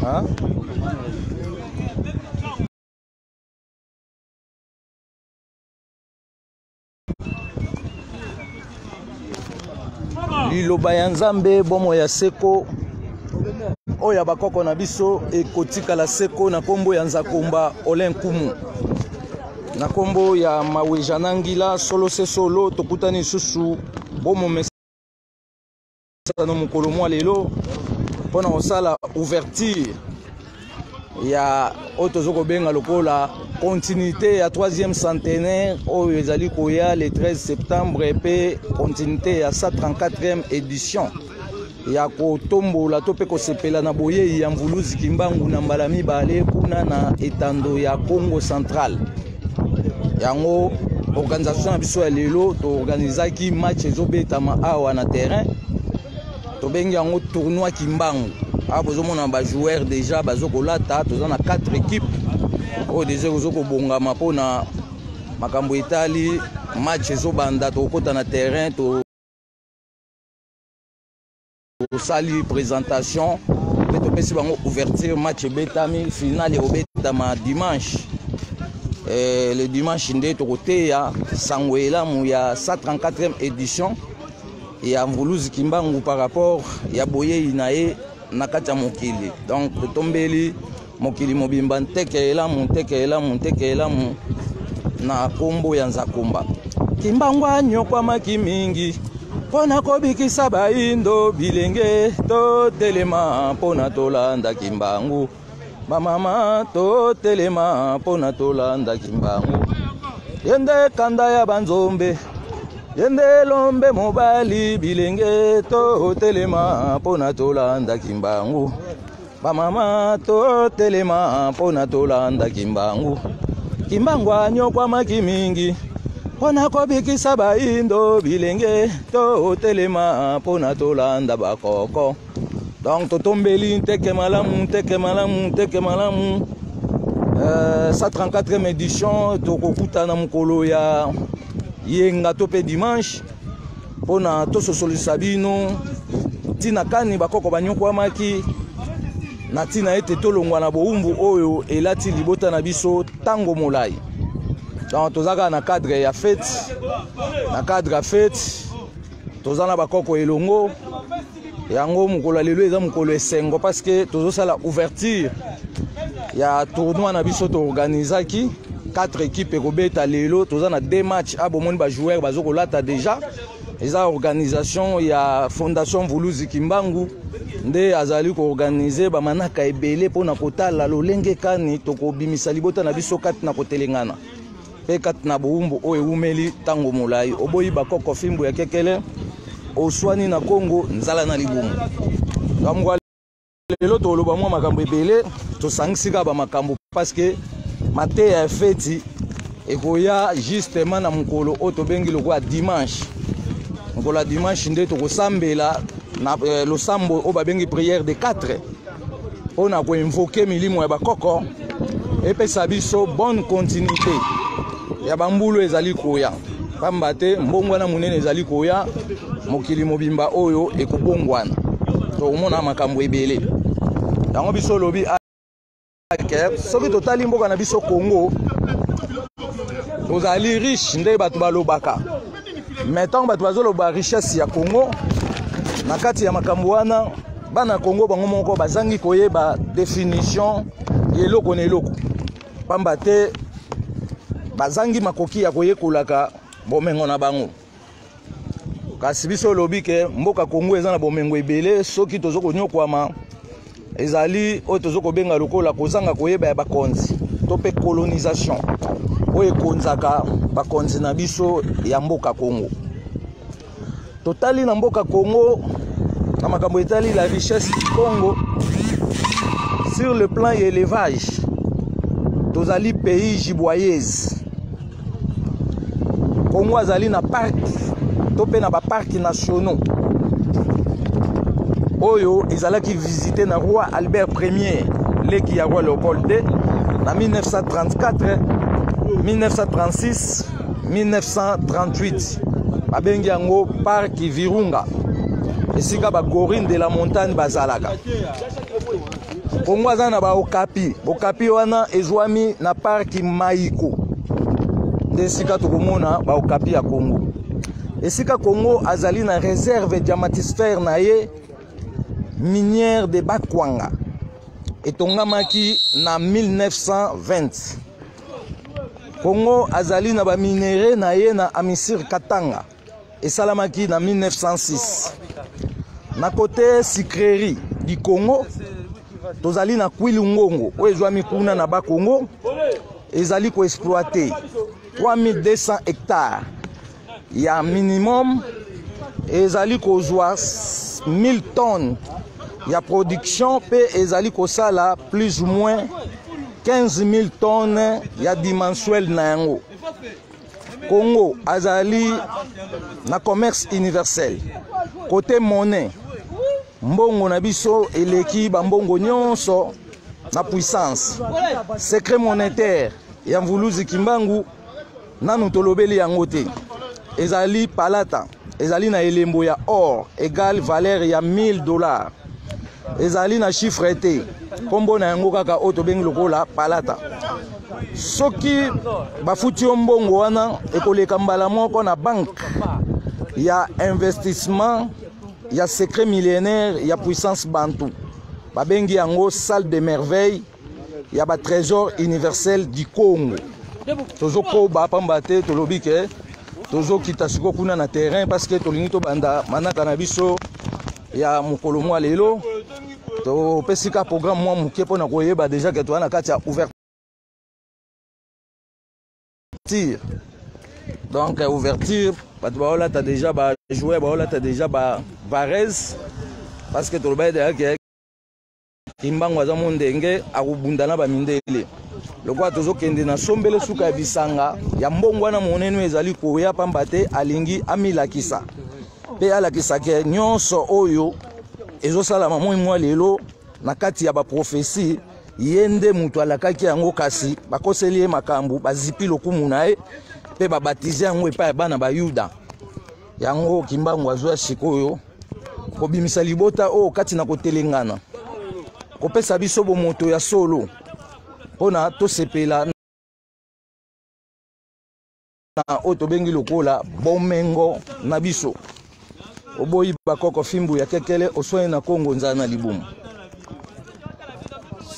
Hein? liloba ya nzambe bomoi ya seko oyo ya bakoko na biso ekotikala seko na nkombo ya nzakomba ole nkumu na nkombo ya maweja na ngila solo se solo tokutani lisusu bomomesa masano mokolo mwa lelo mpo na kosala ouverture ya oyo tozo kobenga lokola continuité ya 3e centenaire oyo ezali koya le 13 septembre mpe continuité ya 134e édition ya kotombola to mpe kosepela na boyei ya mvuluzi kimbangu na mbala mibale kuna na etando ya congo central yango organisation na biso ya lelo toorganizaki match ezobetama awa na terrain tobengi yango tournoi kimbangu awa bozomona bajoueur déjà bazo kolata toza na 4 équipe oyo deja ozo kobongama mpona makambo etali match ezobanda tokokɔta na terrain to tosali presentation mpe topesi bango ouverture match ebetami finale ekobetama dimanche eh, le dimanche nde tokoteya sango elamu ya 134e édition ya mvuluzi kimbangu par rapport ya boyei na ye na kati ya mokili donc totombeli mokili mobimba nteke elamu nteke elamu nteke elamu na nkombo ya nzakumba kimbangu anyokwamaki mingi mpo na kobikisa baindo bilenge totelema mpo na tolanda kimbangu bamama totelema mpo na tolanda kimbangu ye nde kanda ya banzombe ye nde elombe mobali bilenge totelema mpo na tolanda kimbangu bamama totelema mpo na tolanda kimbangu kimbangu anyokwamaki mingi mpo na kobikisa baindo bilenge totelema mpo na tolanda bakoko donc totombeli nteke malamu nteke malamu nteke malamu uh, sa 34e édition tokokutana mokolo ya yenga to mpe dimanche mpo na tososolisa bino ntina kani bakoko banyokwamaki na ntina ete tolongwa na bowumbu oyo elati libota na biso ntango molai donc toza kaka na cadre ya fete na cadre ya fete toza na bakoko elongo yango mokolo ya lelo eza mokolo esengo parce que tozosala ouverture ya tournoi na biso toorganisaki 4 équipe ekobeta lelo toza na 2 match a ah, bomoni bajoueur bazo kolata déjà eza organisation ya fondation vuluzi kimbangu nde azali koorganize bamanaka ebele mpo na kotala lolenge kani tokobimisa libota na biso kati na kotelengana mpe kati na bowumbu oyo ewumeli ntango molai oboyi bakoko fimbu ya kekele oswani na kongo nzala na libumu kamgo lelo toloba mwa makambo ebele tosangisi kaka bamakambo parceke mateya ya feti ekoya justement na mokolo oyo tobengi lokola dimanche mokolo ya dimanche nde tokosambela na eh, losambo oyo babengi priere de 4 mpo na koinvoke milimo ya bakoko epesa biso bonne continuité ya bambulu ezali koya mpamba te mbongwana monene ezali koya mokili mobimba oyo ekobongwana tokomona makambo ebele yango biso olobi soki totali mboka na biso congo tozali riche nde bato balobaka me ntango bato bazoloba richesse ya congo na kati ya makambo wana bana congo bango moko bazangi koyeba definition ya eloko na eloko mpamba te bazangi makoki ya koyekolaka bomengo na bango kasi biso olobi ke mboka congo eza na bomengo ebele soki tozo konyokwama ezali oyo tozo kobenga lokola kozanga koyeba ya bakonzi to mpe colonisation oyo ekonzaka bakonzi na biso ya mboka congo totali na mboka congo na makambo etali la richesse du congo sur le plan ya élevage tozali pays giboyese Congo azali na parc to mpe na baparki nationaux oyo ezalaki visite na roi albert premier leki ya roi leopold ii na 1934 1936 1938 babengi yango parki virunga esika bagorine de la montagne bazalaka Kongo aza na ba okapi bokapi wana ezwami na parki maiko nde esika tokomona ba okapi ya Kongo esika Kongo azali na reserve diamatisphère na ye minière de Bakwanga etongamaki na 1920 Kongo azali na ba minerais na ye na Amisir Katanga esalamaki na 1906 na kote sucrerie du congo tozali na kwili ngongo oyo ezwami kuna na bakongo ezali koexploite 3200 hectares ya minimum ezali kozwa 1000 tonnes ya production mpe ezali kosala plus ou moins 15 000 tonnes ya dimensuel na yango Congo azali na commerce universel kote monnaie mbongo na biso eleki bambongo nyonso na puissance secret monétaire ya mvuluzi kimbangu nanu tolobeli yango te ezali palata ezali na elembo ya or egale valeur ya 1000 dollars ezali na chiffre te nkombo na yango kaka oyo tobengi lokola palata soki bafuti yo mbongo wana ekoleka mbala moko na banke ya investissement ya secret millénaire ya puissance bantu babengi yango salle de merveille ya ba trésor universel du congo tozokoba pamba te tolobi ke tozokita sikoyo kuna na terrain parce que tolingi tobanda manaka na biso ya mokolo mwa lelo topesi ka programme mwa moke mpo na koyeba deja ke toza na kati ya ouverture donc euh, ouverture bato baolata deja bajoueur baolata deja bavarese parce que tolobaki deja ke kimbangu aza mondenge akobunda na bamindele lokola tozokende na sombele suka ya bisanga ya mbongo wana monene ezali koya mpamba te alingi amilakisa mpe alakisaka nyonso oyo ezosalama moi mwa lelo na kati ya baprofesi ye nde moto alakaki yango kasi bakoseli ye makambo bazipi lokumu na ye mpe babatize yango epai ya bana bayuda yango kimbangu azwa sikoyo kobimisa libota oyo kati na kotelengana kopesa biso bomoto ya solo mpo na tosepela na oyo tobengi lokola bomengo na biso oboyi bakoko fimbu ya kekele oswani na kongo nzala na libumu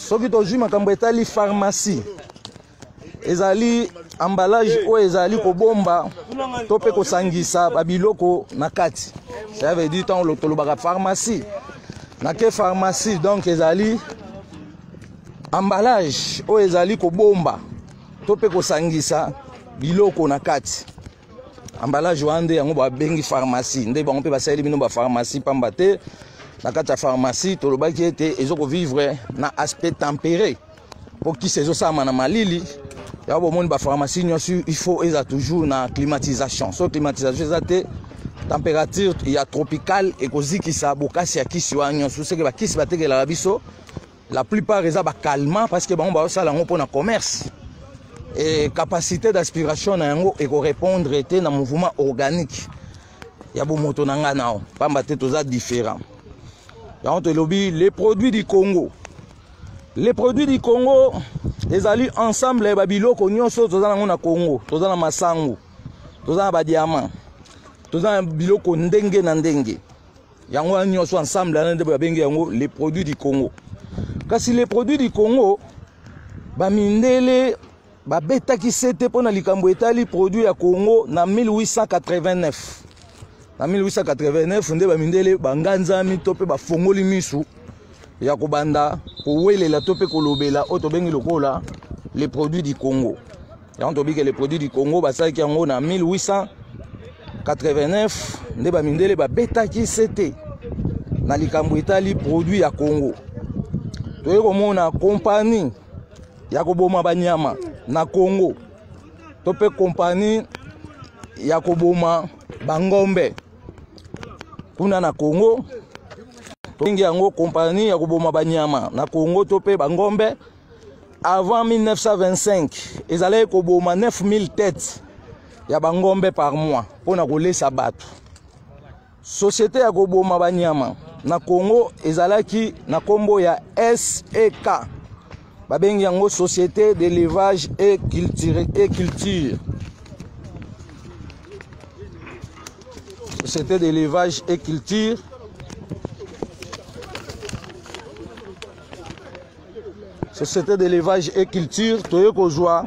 soki tozwi makambo etali pharmacie ezali emballage oyo ezali kobomba to mpe kosangisa babiloko na kati ça veut dire ntango tolobaka pharmacie na ke pharmacie donc ezali emballage oyo ezali kobomba to mpe kosangisa biloko na kati emballage wana nde yango babengi pharmacie nde bango mpe basaleli bino bapharmacie mpamba te na kati ya pharmacie tolobaki ete ezokovivre na aspect tempere mpo kisi ezosalama na malili yango bomoni bapharmacie nyonso il faut eza toujours na climatisation so climatisation eza te température ya tropicale ekozikisa bokasi ya kisi wana nyonso seke bakisi batekelaka biso la plupart eza bacalmant parce que bango bazosala yango mpo na commerce e capacité d'aspiration na yango ekorépondre te na mouvement organique ya bomoto na ngai nao mpamba te toza différent yango tolobi les produits du congo Les produits du Congo ezali ensemble ya babiloko nyonso toza nango na Congo. Toza na masangu, toza na badiamant, toza na biloko ndenge na ndenge. Yango wana nyonso ensemble wana nde babengi yango les produits du Congo. Kasi les produits du Congo bamindele babetaki sete mpo na likambo etali produit ya congo na 1889 na 1889 nde bamindele banganzami to mpe bafongoli misu ya kobanda kowelela to mpe kolobela oyo tobengi lokola le produit du congo yango tobike le produit du congo basalaki yango na 1889 nde bamindele babetaki sete na likambo etali produit ya congo toyei komona kompani ya koboma banyama na congo to mpe kompani ya koboma bangombe kuna na congo tobengi yango kompani ya koboma banyama na congo to mpe bangombe avant 1925 ezalaki koboma 9000 tete ya bangombe par mois mpo na kolesa bato Société ya koboma banyama na Congo ezalaki na kombo ya SEK. Babengi yango Société d'élevage et culture et culture. Société d'élevage et culture. Société d'élevage et culture toye kozwa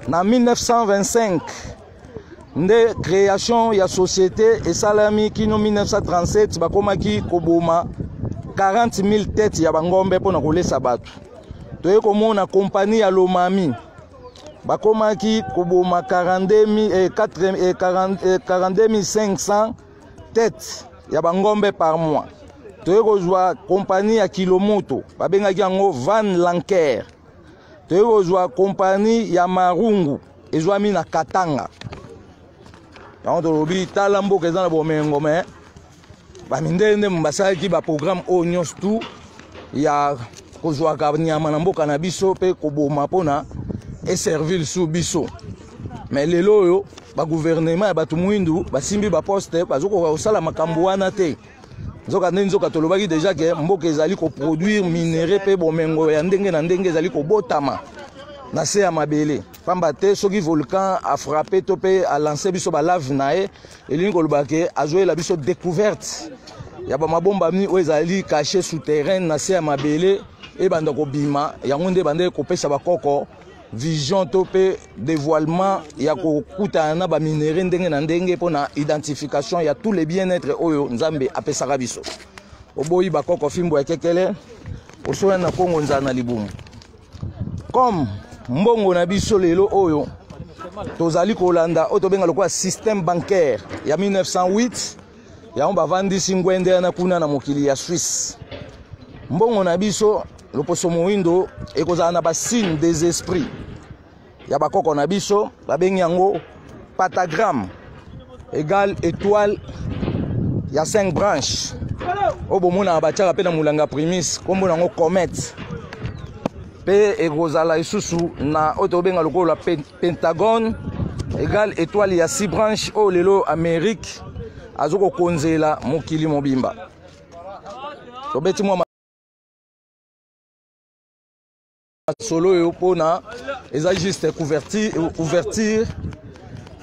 na 1925 nde création ya société esalami kino 1937 bakomaki koboma 40 000 tete ya bangombe mpo na kolesa bato toye komona kompani ya lomami bakomaki koboma 42 500 tete ya bangombe par mois toye kozwa kompani ya kilomoto babengaki yango van lanker toye kozwa kompani ya marungu ezwami na katanga yango tolobi tala mboka eza na bomengo me bamindele nde basalaki baprogramme oyo nyonso tu ya kozwaka nyama na mboka na biso mpe koboma mpona eservi lisusu biso me lelo oyo baguvernema ya bato moindu basimbi baposte bazokoka kosala makambo wana te nzoka nde nzoka tolobaki deja ke mboka ezali koproduire minere mpe bomengo ya ndenge na ndenge ezali kobotama na se ya mabele mpamba te soki volcan afrappe to mpe alance biso balave na ye elingi koloba ke azoyela biso découverte ya bamabombami oyo ezali cache souterraine na se ya mabele ebanda kobima yango nde ebandaki kopesa bakoko vision to mpe dévoilement ya kokutana na baminere ndenge na ndenge mpo na identification ya tous les bien-être oyo nzambe apesaka biso oboyi bakoko fimbo ya kekele osoya na kongo nzala na libumu comme mbongo na biso lelo oyo tozali kolanda oyo tobenga lokola système bancaire ya 1908 yango bavandisi ngwende wana kuna na mokili ya swisse mbongo na biso loposo moindo ekozala na basigne des esprits ya bakoko na biso babengi yango patagramme egal étoile ya 5 branche oyo bomonaka batiaka mpe na molanga primis nkombo na yango comète mpe ekozala lisusu na oyo tobenga lokola pentagone egal etoile ya six branche oyo lelo amérique azo kokonzela mokili mobimba tobeti mwa masolo oyo mpona eza juste couverture, ouverture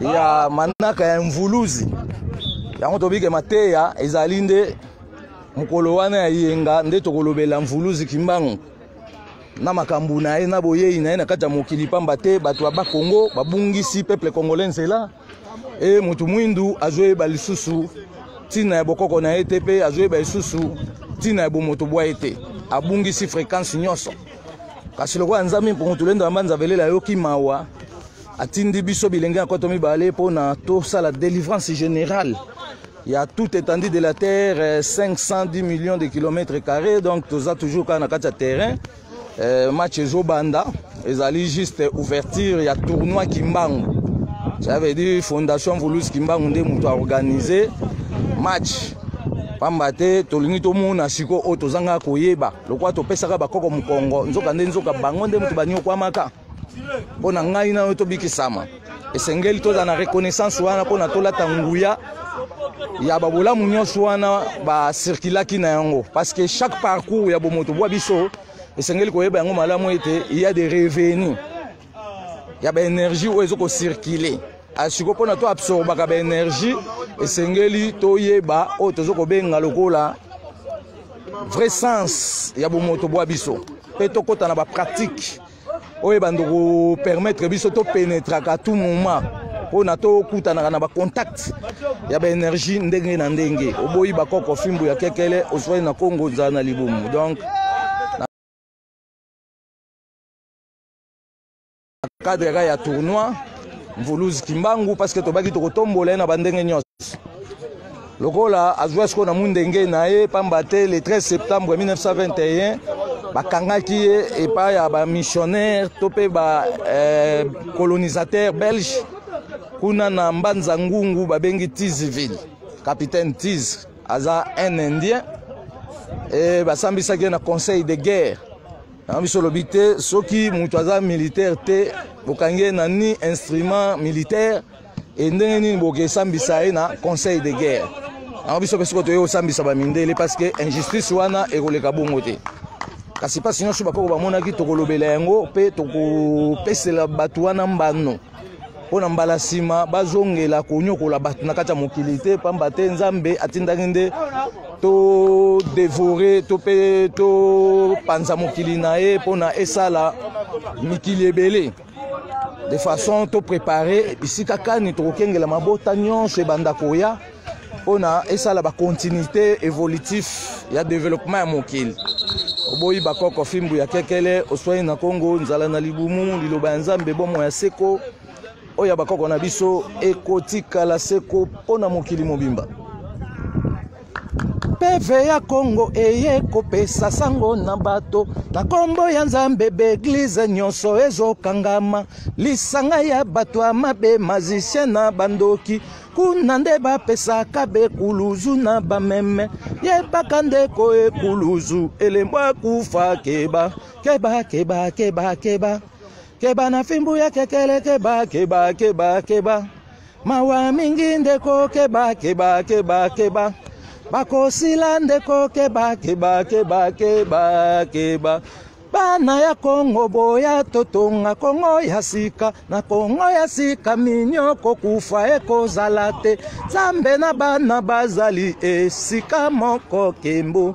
ya manaka ya mvuluzi yango tobike mateya ezali nde mokolo wana ya yenga nde tokolobela mvuluzi kimbangu na makambo na ye na boyei na ye na kati ya mokili mpamba te bato ya bakongo babungisi peuple congolais nzela e moto mwindu azoyeba lisusu ntina ya bokoko na ye te mpe azoyeba lisusu ntina ya bomoto bwa ye te abungisi fréquence nyonso kasi lokola nzambe mpongo tolendo yamba nzavelela ayoki mawa atindi biso bilenge ya koto mibale mpo na tosala délivrance générale ya tout étendue de la terre 510 euh, millions de kilomètres carrés donc toza toujours kaka na kati ya terrain euh, match ezobanda ezali juste ouverture ya tournoi kimbangu ça veut dire fondation volus kimbangu nde moto aorganize match pamba te tolingi tomona sikoyo oyo tozanga koyeba lokola topesaka bakoko mokongo nzoka nde nzoka bango nde moto banyokwamaka mpo na ngai na yo tobikisama esengeli tozala na reconnaissance wana mpo na tolata nguya ya babolamu nyonso wana basirkulaki na yango parce que chaque parcours ya bomoto bwa biso esengeli koyeba yango malamu ete ya de revenu ya baenergie oyo ezo kocirkule asiko mpo na to absorbaka baenergie esengeli toyeba oyo tozo kobenga lokola vrai sens ya bomoto bwa biso mpe tokɔta na bapratique oyo ebanda kopermettre biso topenetraka tout moment mpo na tokutanaka na bacontact ya baénergie ndenge na ndenge oboyi bakoko fimbu ya kekele ozwai na kongo ozala na libumu donc cadre kaka ya tournoi mvuluzi kimbangu parce que tobaki tokotombola ye na bandenge nyonso lokola azwa sikoyo na mundenge na ye mpamba te le 13 septembre 1921 bakangaki ye epai ya bamissionnaire to mpe bacolonisateur eh, belge kuna na mbanza ngungu babengi tiziville capitaine tiz aza un indien e basambisaki ye na conseil de guerre yango biso olobi te soki moto aza militaire te bokangi ye na ni instrument militaire e ndenge nini boke esambisa ye na conseil de guerre yango biso mpe soko toyei kosambisa bamindele parce que injustice wana ekoleka bongo te kasi mpasi nyonso bakoko bamonaki tokolobela yango mpe tokopesela bato wana mbano mpo na mbala nsima bazongela konyokola bato na kati ya mokili te mpamba te nzambe atindaki nde todevore to mpe topanza mokili na ye mpo na esala mikili ebele de façon to préparer bisika kani tokokengela mabota nyonso ebanda koya mpo na esala bacontinuité évolutif ya développement ya mokili oboyi bakoko fimbu ya kekele oswani na kongo nzala na libumu liloba ya nzambe bomo ya seko oyo ya bakoko na biso ekotikala seko mpo na mokili mobimba peve ya kongo eye kopesa sango na bato na nkombo ya nzambe baeglize nyonso ezokangama lisanga ya bato ya mabe mazisien na bandoki kuna nde bapesaka bekuluzu na bameme yebaka ndeko ekuluzu elembo akufa keba keba keba keba keba keba na fimbu ya kekele keba keba keba keba, keba. Mawa mingi ndeko keba keba keba keba bakosila ndeko keba keba keba keba keba bana ya kongo boya totonga kongo ya sika na kongo ya sika minio kokufa ekozala te nzambe na bana bazali esika moko kembo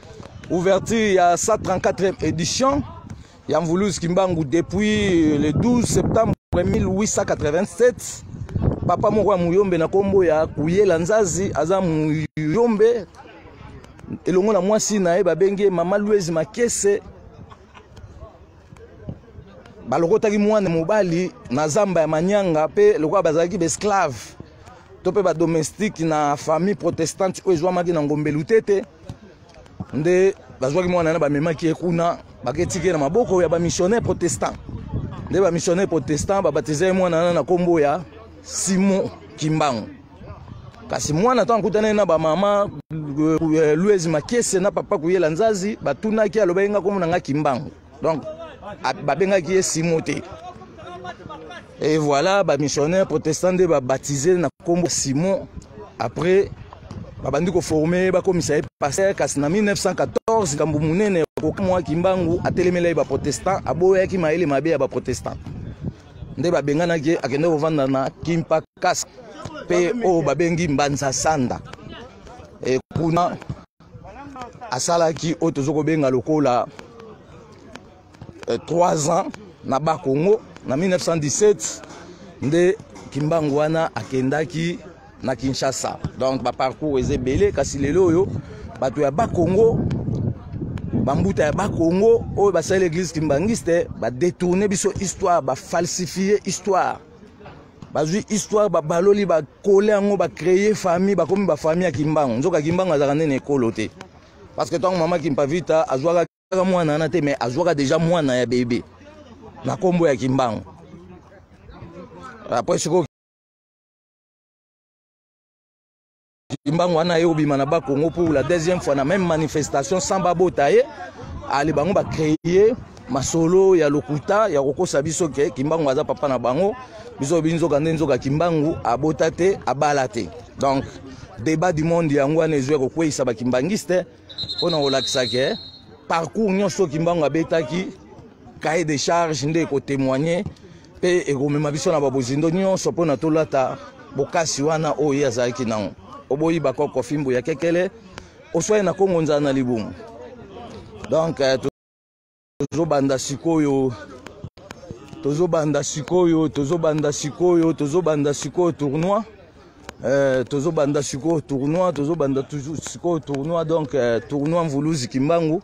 Ouverture ya 134e édition ya Mvuluzi Kimbangu depuis le 12 septembre 1887 papa moko ya muyombe na nkombo ya kuyela nzazi aza muyombe elongo na mwasi na ye babengi ye mama luezi makese balokotaki mwana mobali na zamba ya manyanga mpe lokola bazalaki baesclave to mpe badomestike na famille protestante oyo ezwamaki na ngombe lutete nde bazwaki mwana na bamemaki ye kuna baketiki ye na maboko ya bamissionnaire protestant nde bamissionnaire protestant babatiza ye mwana na na nkombo ya simon kimbangu kasi mwana ntango akutani na bamama eh, louise makese na papa kuyela nzazi batunaki alobaki nga nkombo na nga kimbangu donc babengaki ye simo te et voilà bamissionnaire protestant nde babaptise na nkombo simon après babandi koforme bakomisa ye paster kasi na 1914 likambo monene kokamwa kimbangu atelemela ye baprotestant aboyaki mayele mabe ya baprotestant nde babenganaki ye akende kovanda na kimpa casque mpe oyo babengi mbanza sanda e kuna asalaki oyo tozo kobenga lokola 3 eh, ans na ba Congo na 1917 nde kimbangu wana akendaki na Kinshasa donc ba parcours eza ebele kasi lelo oyo bato ya ba Congo bambuta ya bakongo oyo basali eglise kimbanguiste badetourne biso histoire bafalsifie histoire bazwi histoire babaloli bakole yango bacreye famille bakomi bafamille ya kimbangu nzoka kimbangu azalaka nde na ekolo te parce que ntango mama kimpavita azwaka kaka mwana wana te mais azwaka deja mwana ya bebe na nkombo ya kimbangu apres sikoyo kimbangu wana aye kobima na bakongo pour la deuxième fois na même manifestation sans babota ye ale bango bacreye masolo ya lokuta ya kokosa biso ke kimbangu aza papa na bango biso bi nzoka nde nzoka kimbangu abota te abala te donc débat du monde yango wana ezwi ya kokweyisa bakimbangiste mpo na kolakisa ke parcours nyonso kimbangu abetaki cahier de charge nde ekotemoigne mpe ekomema biso na babozindo nyonso mpo na tolata bokasi wana oyo ye azalaki nango oboyi bakoko fimbu ya kekele oswai na kongo nzala na libumu donc eh, tozobanda sikoyo tozobanda sikoyo tozobanda sikoyo tozobanda sikoyo tournoi eh, tozobanda sikoyo tournoi tozobanda sikoyo tournoi donc eh, tournoi mvuluzi kimbangu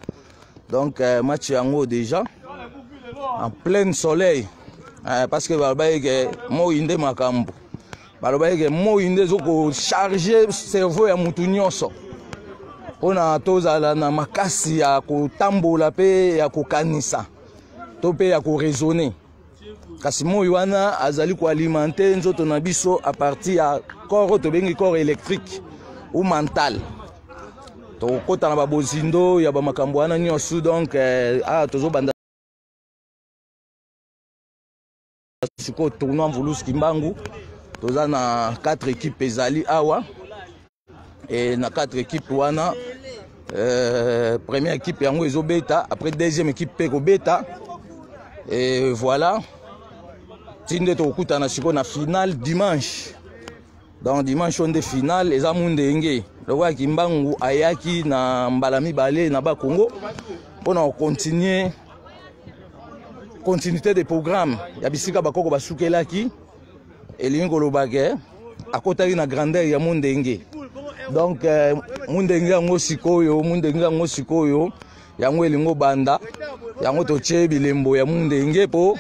donc euh, match yango déjà en plein soleil euh, parce que balobaki ke moi nde makambo balobaki ke moi nde ezokocharge cerveau ya motu nyonso mpona tozala na makasi ya kotambola mpe ya kokanisa to mpe ya koraisonner kasi moi wana azali koalimente nzoto na biso a partir ya corps oyo tobengi corps électrique ou mental tokokota na babozindo ya bamakambo wana nyonso donc eh, ah, tozobanda sikoyo tournoi mvulusu kimbangu toza na 4 équipe ezali awa et na quatre équipes wana euh, première équipe yango ezobeta après deuxième équipe mpe ekobeta et voilà ti nde tokokutana sikoyo na finale dimanche donc dimanche oyo nde finale eza mundenge lokola kimbangu ayaki na mbala mibale na bakongo mpo na kocontinue continuité de programme ya bisika bakoko basukelaki elingi koloba ke akotaki na grandeur ya mondenge donc eh, mondenge yango sikoyo mondenge yango sikoyo yango elingi obanda yango totye bilembo ya mondenge mpo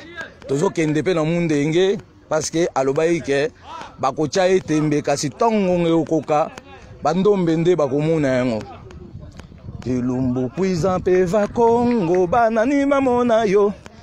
tozokende mpe na mondenge parce que alobaki ke bakotya ye tembe kasi ntongo nge okoka bandombe nde bakomona yango elumbu kuiza mpe vakongo banani bamona yo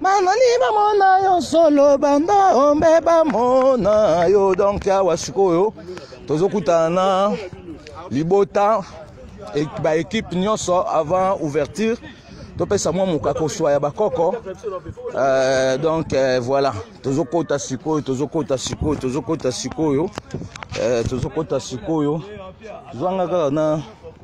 banani bamona yo solo banda ombe bamona yo donk awa sikoyo tozokutana na libota baekipe nyonso avant ouverture topesa mwa moka koswa ya bakoko euh, donc euh, voilà tozokota sikoyo tozokota sikoyo tozokota sikoyo euh, tozokota sikoyo zwanga kaka na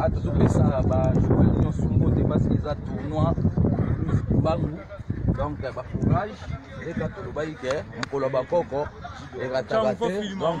ata topesa bajoueur nyonso mbote parce que eza tournoi mbangu donc bacourage leka tolobaki ke mokolo ya bakoko ekataka te donc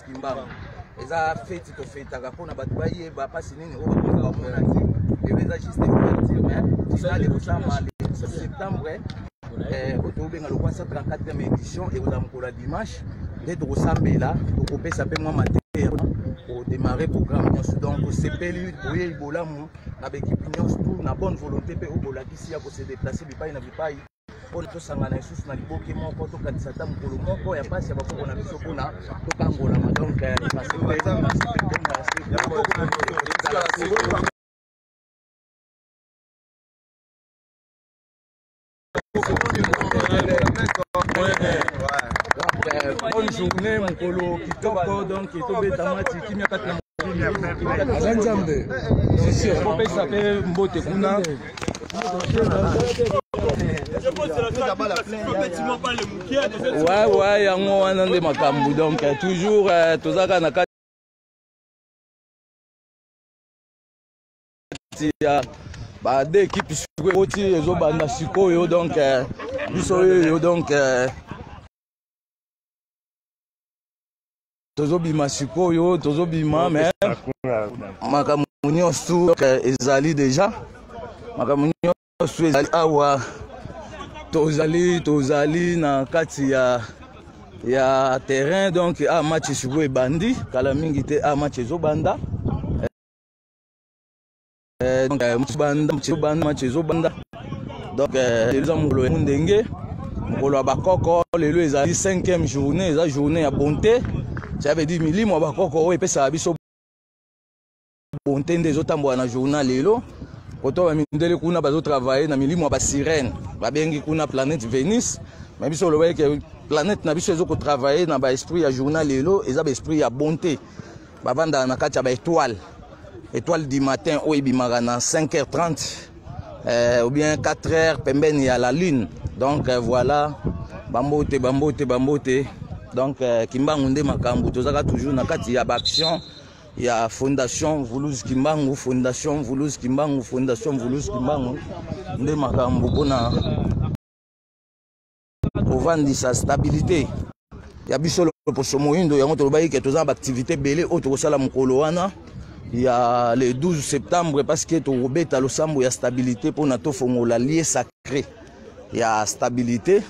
kimbangu eza feti tofetaka mpona bato bayeba mpasi nini oyo bakoza bamona te eyo eza juste ouverture mais finale ekosama septembre eh, oyo tokobenga lokwa 134e édition ekozala mokolo ya dimanche nde tokosambela tokopesa mpe mwa mateya kodemare programme nyonso donc tosepeli boyei bolamu na baekipe nyonso na bonne volonté mpe oyo bolakisi ya kose deplace bipai na bipai mpo tosangana lisusu na liboke moko tokanisa ata mokolo moko ya mpasi ya bakoko na biso mpona tokangolama donc bonne journée mokolo kitoko donc tobeta mati kimia kati na aza nzambe kopesa mpe mbote kuna Ouais, ouais, yango wana nde makambo donc euh, toujours euh, tozalaka na kati ya ba deux équipe sikoyo ekoti ezobanda sikoyo donc euh, biso oyo donc tozobima sikoyo tozobima mais makambo nyonso ezali deja makambo nyonso ezali awa tozali tozali na kati ya ya terrain donc a ah, match sikoyo ebandi kala mingi te a ah, match ezobanda eh, donc eh, mobanda mobanda match ezobanda donc eh, eza mokolo ya ndenge mokolo ya bakoko lelo ezali 5e journée eza journée ya bonte ça veut dire milimo ya bakoko oyo epesaka biso bonte nde ezotambola na journal lelo koto bamindele kuna bazotravaille na milimo ya basirene babengi kuna planète venus me biso olobaki ke planète na biso ezokotravaille na baesprit ya journal lelo eza baesprit ya bonte bavandaka na kati ya baetoile etoile du matin oyo ebimaka na 5h30 eh, ou bien 4h pembeni ya la lune donc eh, voilà bambote bambote bambote donc eh, kimbangu nde makambo tozalaka toujours na kati ya baaction ya fondation vulus kimbangu fondation vulus kimbangu fondation vulus kimbangu nde makambo mpona kovandisa stabilité ya biso loposo moyindo yango tolobaki ke toza na baaktivité ebele oyo tokosala mokolo wana ya le 12 septembre parce que tokobeta losambo ya stabilité mpona tofongola lie sacré ya stabilité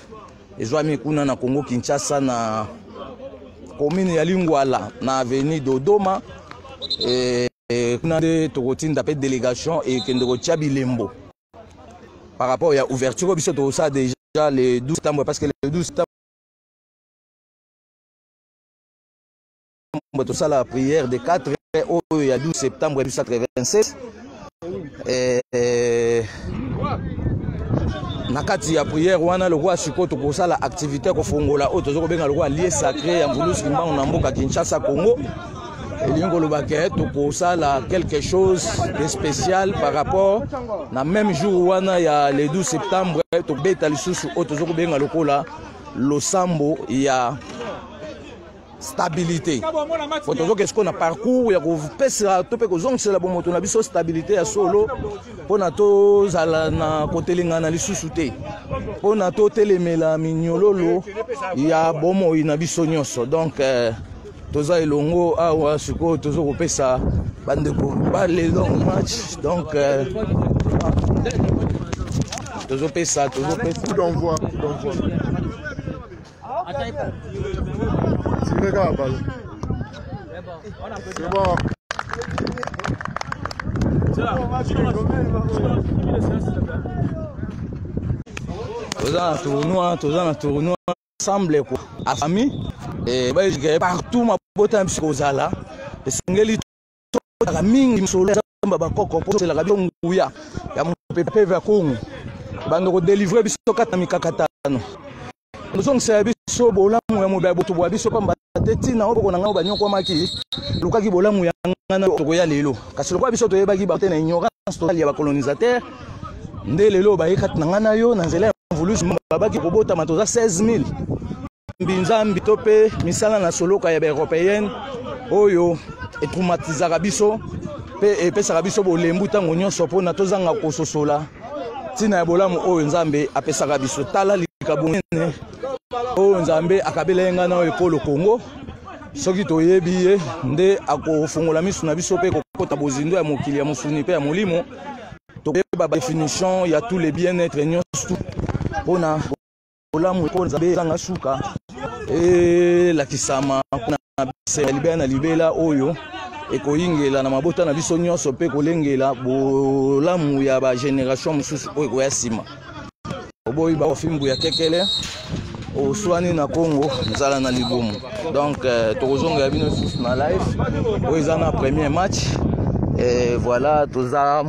ezwami kuna na congo kinshasa na commune ya lingwala na avenue dodoma e, e, kuna nde tokotinda mpe délégation ekende kotya bilembo par rapport ya ouverture oyo biso tokosala déjà le 12 septembre parce que le 12 septembre tosala prière de 4 oyo ya 12 septembre 1996 eh, eh, na kati ya prière wana lokola sikoyo tokosala activité ya kofongola oyo toza kobenga lokola lie sacré ya mvulusi kimbangu na mboka kinshasa congo elingi koloba ke tokosala quelque chose de spécial par rapport na même jour wana ya le 12 septembre tobeta lisusu oyo toza kobenga lokola losambo ya stabilité po tozoke sikoyo na parcours ya kopesa to mpe kozongisela bomoto na biso stabilité ya solo mpo na tozala na kotelengana lisusu te mpo na totelemela minyololo ya bomoi na biso nyonso donc euh, toza elongo awa sikoyo toza kopesa bandeko bale long match donc euh, tozopesa tozopesa toza na tournoi toza na tournoi ensemble quoi a famille et ba que partout ma bota biso kozala esengeli tolaka mingi misolo ya zamba bakoko mpo tozelaka biso nguya ya mopepeve ya kongo bando kodelivre biso kata mikakatano tozongisa ya biso bolamu ya mobali boto bwa biso pamba te ntina oyo boko na ngai banyokwamaki lukaki bolamu ya ngai na tokoya lelo kasi lokola biso toyebaki bate na ignorance totali ya bacolonisateur nde lelo baye kati na ngai na yo na nzela ya mvulusi babaki kobotama toza 16000 mbinzambi to mpe misala na soloka ya baeuropéenne oyo etraumatisaka biso mpe epesaka biso bolembu ntango nyonso mpona tozanga kososola ntina ya bolamu oyo nzambe apesaka biso tala likabo nene oyo nzambe akabela ye ngai na oyo ekolo kongo soki toyebi ye nde akofungola misu na biso mpe kokota bozindo ya mokili ya mosuni mpe ya molimo tokoyeba badefinition ya tous les bien être nyonso mpona bolamu mpo nzambe ezanga suka elakisama mpona bese ya libela na libela oyo ekoyingela na mabota na biso nyonso mpe kolengela bolamu ya bageneration mosusu oyo ekoya nsima oboyi baofimbu ya kekele oswani na congo nzala na libumu donc euh, tokozongela bino lisusu na live oyo eza na premier match et voilà toza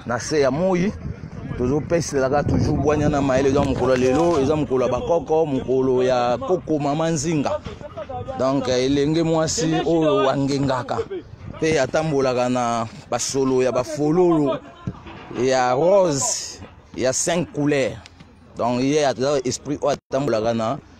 na se ya moi tozopeselaka toujours bwanya na mayele eza mokolo ya lelo eza mokolo ya bakoko mokolo ya koko mama nzinga donc elenge mwasi oyo angengaka mpe atambolaka na basolo ya bafololo ya rose ya 5 couleur donc ye aza esprit oyo atambolaka na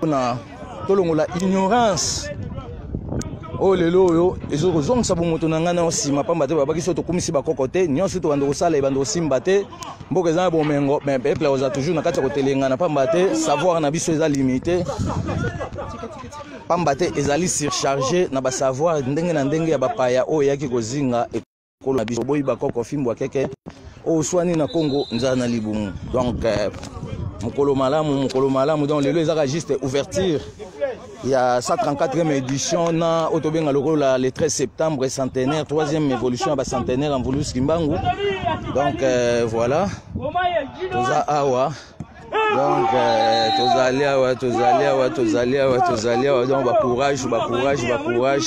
pona tolongola ignorance oyo lelo oyo ezo kozongisa bomoto na ngai nayo nsima mpamba te babaki so tokumisi bakoko te nyonso tobanda kosala ebanda kosimba te mboka eza na bomengo me peple akozala toujours na kati ya kotelengana mpamba te savoir na biso eza limite mpamba te ezali surcharge na basavoir ndenge na ndenge ya bapaya oyo eyaki kozinga kolo na biso boyi bakoko fimbo akeke oswani na congo nzala na libumu donc euh, mokolo malamu mokolo malamu donc lelo ezaka juste ouverture ya 134e édition na oyo tobenga lokola le 13 septembre centenaire 3e évolution ya bacentenaire ya mvulus kimbangu donc euh, voilà toza awa donc euh, tozali awa tozali awa tozali awa tozali awa donc bacourage bacourage bacourage